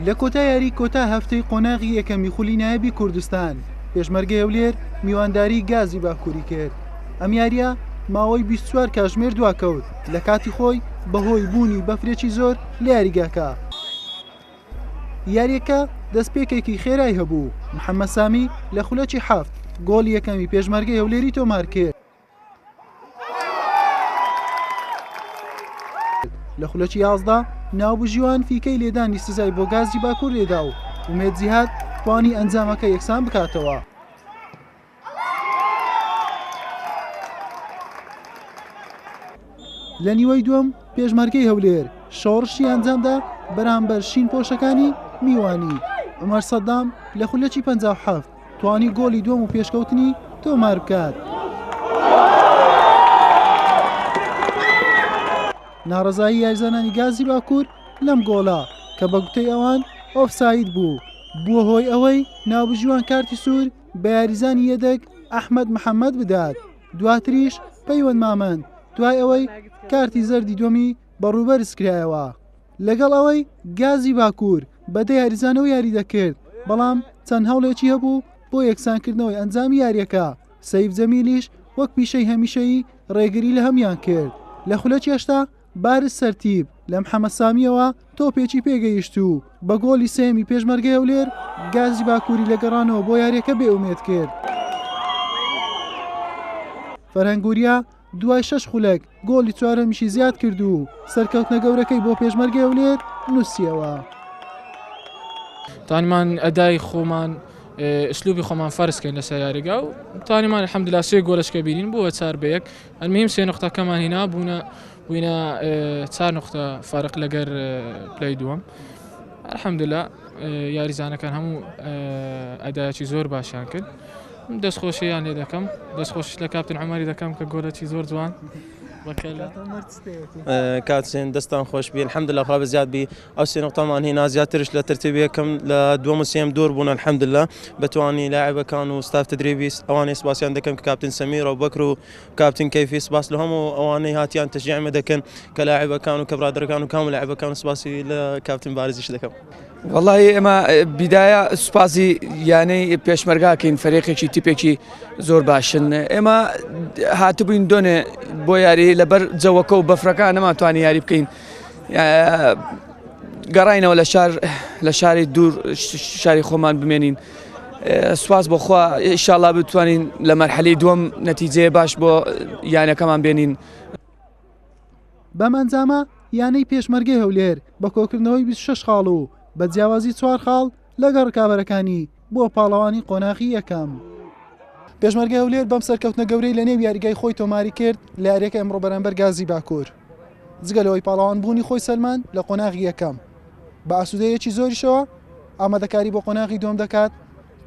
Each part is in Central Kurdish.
لە کۆتا یاری کۆتا هەفتەی قۆناغی یەکەمی خولی نایبی کوردستان پێشمەرگە هەولێر میوانداری گازی باکووری کرد ئەم یاریە ماوەی 24 کاژمێر دواکەوت لە کاتی خۆی بەهۆی بوونی بەفرێکی زۆر لە یاریگاکە یاریەکە دەستپێکێکی خێرای هەبوو محەممە سامی لە خولەکی حەفت گۆڵ یەکەمی پێشمەرگە هەولێری تۆمار کرد. لە خولەکی یازدە ناوبژیوان فیکەی لێدانی سزای بۆ گازی باکوور لێدا و ومێد جیهات توانی ئەنجامەکە یەکسان بکاتەوە. لە نیوەی دووەم پێشمەرگەی هەولێر شۆڕشی ئەنجامدا بەرامبەر شین پۆشەکانی میوانی عمر سەدام لە خولەکی پەنجا و حەفت توانی گۆلی دووەم و پێشکەوتنی تۆمار بکات. ناڕەزایی یاریزانانی گازی باکوور لەم گۆڵە کە بە گوتەی ئەوان ئۆفساید بوو بووە هۆی ئەوەی ناوبژیوان کارتی سوور بە یاریزانی یەدەگ ئەحمەد محەممەد بدات دواتریش پەیوەند مامەند دوای ئەوەی کارتی زەردی دووەمی بە ڕووبەرز کرایەوە. لەگەڵ ئەوەی گازی باکوور بەدە یاریزانەوە یاری دەکرد، بەڵام چەند هەوڵێکی هەبوو بۆ یەکسانکردنەوەی ئەنجامی یارییەکە، سەیف جەمیلیش وەک پیشەی هەمیشەیی ڕێگری لە هەموویان کرد، لە خولەکی هەشتا بارز سەرتیپ لە محەمەد سامییەوە تۆپێکی پێگەیشت و بە گۆڵی سێیەمی پێشمەرگەی هەولێر گازی باکووری لە گەڕانەوە بۆ یارییەکە بێئومێد کرد. فەرهەنگ وریا دوای شەش خولەک گۆڵی چوارەمیشی زیاد کرد و سەرکەوتنە گەورەکەی بۆ پێشمەرگەی هەولێر نووسیەوە. توانیمان ئەدای خۆمان ئسلوبی خۆمان فەرزکەین لەسەر یاریگا و توانیمان حەمدلا سێ گۆلشکە بینین بووە چار بەیەک ئەلمیم سێ نقطەکەمان هینا بوونە بووینە چار نقطە فارق لەگەر پلەی دووەم الحمدللا یاریزانەکان هەموو ئەدایکی زۆر باشیان کرد. من دەست خۆشیان لێ دەکەم دەست خۆشیش لە کاپتن عومەری دەکەم کە گۆلەکی زۆر جوان کاتژێن دەستان خۆش بی الحمد لە خوا زیاد بی ئەو سێ نقطەمان هینا زیاترش لە ترتیبەکەم لە دووەم سێم دور بوون الحمد لله بتوانانی لاعبەکان و ستاف تدریبی ئەوانەی سپاسیان دەکەم کە کاپتن سەمیر و بەکر و کاپتن کەفی سپاس لە هەموو ئەوانەی هاتیان تشجیعمە دەکەن کە لاعبەکان و کە برادەکان و کام لاعبەکان سپاسی لە کاپتن بارزیش دەکەم وەڵاهی ئێمە بیداە سوپاسی یانەی پێشمەرگاکەین فەرێقێکی تیپێکی زۆر باشن ئێمە هاتبووین دۆنێ بۆ یاری لەبەر جەوەکە و بەفرەکان نەماتوانانی یاری بکەین گەڕینەوە لە شار لە شاری دوور شاری خۆمان بمێنین سواز بۆخوا ئیشاڵا بتوانین لە مەرحەلی دووەم نەتیجەیە باش بۆ یانەکەمان بێنین بەم ئەنجامە یانەی پێشمەرگەی هەولێر بە کۆکردنەوەی بیست و شەش خاڵ و بە جیاوازی چوار خاڵ لەگەڵ رکابەرەکانی بووە پاڵەوانی قۆناغی یەکەم. پێشمەرگەی هەولێر بەم سەرکەوتنە گەورەی لە نێو یاریگای خۆی تۆماری کرد لە یارییەکەی ئەمڕۆ بەرامبەر گازی باکوور، جگە لەوەی پاڵەوان بوونی خۆی سەلماند لە قۆناغی یەکەم، بە ئاسوودەییەکی زۆریشەوە ئامادەکاری بۆ قۆناغی دووەم دەکات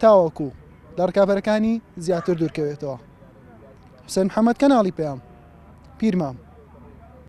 تاوەکو لە رکابەرەکانی زیاتر دوورکەوێتەوە. حسێن محەمەد کەناڵی پەیام پیرمام.